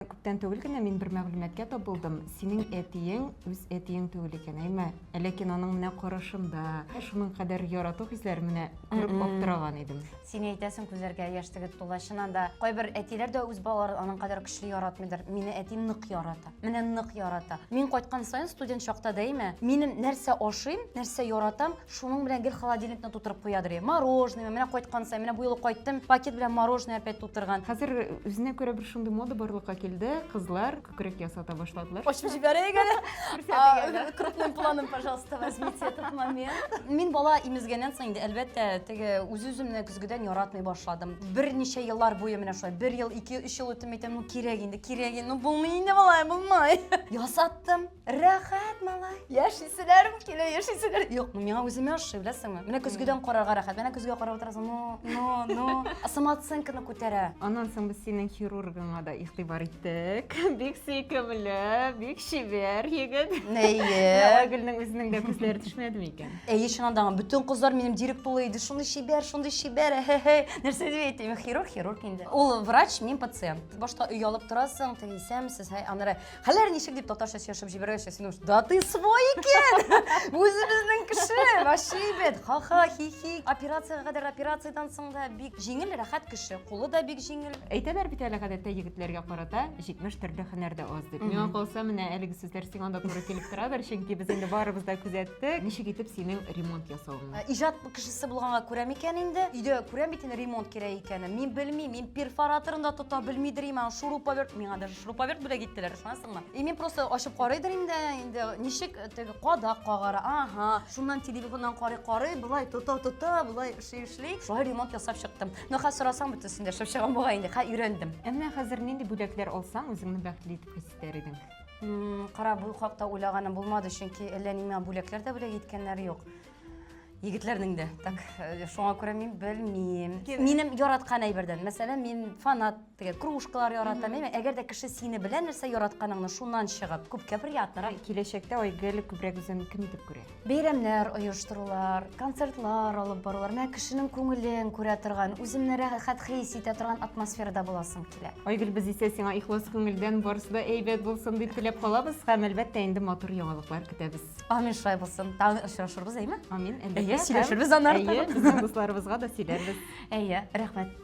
Күптән түгел генә мин бер мәгълүматкә тап булдым. Синең әтиең үз әтиең түгел икән, әйме? Ләкин аның менә карашында шуның кадәр ярату хисләре менә күреп аптыраган идем. Син әйтәсең, күзләргә яшь тегеп тула. Чыннан да, кайбер әтиләр дә үз балаларын аның кадәр көчле яратмыйдыр. Мине әтим нык ярата. Менә нык ярата. Мин кайткан саен студент чакта да әйме, минем нәрсә ашыйм, нәрсә яратам, Шуның белән гел холодильникны тутырып куядыр. Мороженое, менә кайткан сай, менә бу юлы кайттым, пакет белән мороженое опять тутырган. Хәзер үзенә күрә бер шундый мода барлыкка килде, кызлар күкрәк ясата башладылар. Ачып җибәрәйек әле. Крупным планом, пожалуйста, возьмите этот момент. Мин бала имезгәннән соң инде, әлбәттә, теге үз-үземне көзгедән яратмый башладым. Берничә еллар буе менә шулай, бер ел, ике, өч ел үтеп, мин әйтәм, ну кирәк инде, кирәк инде, ну булмый инде болай, булмый. Ясаттым. Рәхәт, малай. Яшисенәрем килә, яшисенәр. Юк, ну миңа үземә ошый, беләсеңме? Менә көзгедән карарга рәхәт. Менә көзгә карап утырасың. Ну, ну, ну. Самооценканы күтәрә. Аннан соң без синең хирургыңа да игътибар иттек. Бик сөйкемле, бик чибәр егет. Әйе. Айгөлнең үзенең дә күзләре төшмәдеме икән? Әйе, чыннан да, бөтен кызлар минем дирек тулы иде. Шундый чибәр, шундый чибәр. Хе-хе. Нәрсә дип әйтим? Хирург, хирург инде. Ул врач, мин пациент. Башта оялып торасың, тегесәмсез, һәй, аннары Хәлләр ничек дип татарча сөйләшеп җибәргәчә, син уж да ты свой икән! Үзебезнең кеше! Вообще әйбәт! Ха-ха, хи-хи. Операциягә кадәр операциядән соң да бик җиңел, рәхәт кеше. Кулы да бик җиңел. Әйтәләр бит әле гадәттә егетләргә карата 70 төрле һөнәр дә аз дип. Миңа калса, менә әлеге сүзләр сиңа да туры килеп торадыр, чөнки без инде барыбыз да күзәттек. Ничек итеп синең ремонт ясавыңны? Ә, Иҗат кешесе булганга күрәм икән инде. Өйдә күрәм бит инде ремонт кирәк икәнен. Мин белмим, мин перфораторын да тота белмидер имән, шуруповерт миңа даже Шуруповерт бүләк иттеләр, ышанасыңмы? И мин просто ачып карыйдыр инде, инде ничек э, теге кадак кагара, ага, шуннан телефоннан карый карый, былай тота тота, былай эшли эшли, шулай ремонт ясап чыктым. Но хәзер сорасаң бөтенсен дә эшләп чыгам бугай инде, хә өйрәндем. Ә менә хәзер нинди бүләкләр алсаң, үзеңне бәхетле итеп хис итәр идең? Кара, бу хакта уйлаганым булмады, чөнки әллә нимә бүләкләр дә бүләк иткәннәр юк. Егетләрнең дә. Так, э, шуңа күрә мин белмим. Минем яраткан әйбердән, мәсәлән, мин фанат Теге кружкалар яратам, әйме? Әгәр дә кеше сине белә нәрсә яратканыңны шуннан чыгып, күпкә приятнырак. Киләчәктә Айгөл күбрәк үзен кем итеп күрә? Бәйрәмнәр оештырулар, концертлар алып барулар, менә кешенең күңелен күрә торган, үземне рәхәт хис итә торган атмосферада буласым килә. Айгөл, без исә сиңа ихлас күңелдән барысы да әйбәт булсын дип теләп калабыз һәм әлбәттә инде матур яңалыклар көтәбез. Амин, шулай булсын. Тагын очрашырбыз, әйме? Амин, әлбәттә. Әйе, сөйләшербез аны артыгы. Әйе, безнең дусларыбызга да сөйләрбез. Әйе, рәхмәт.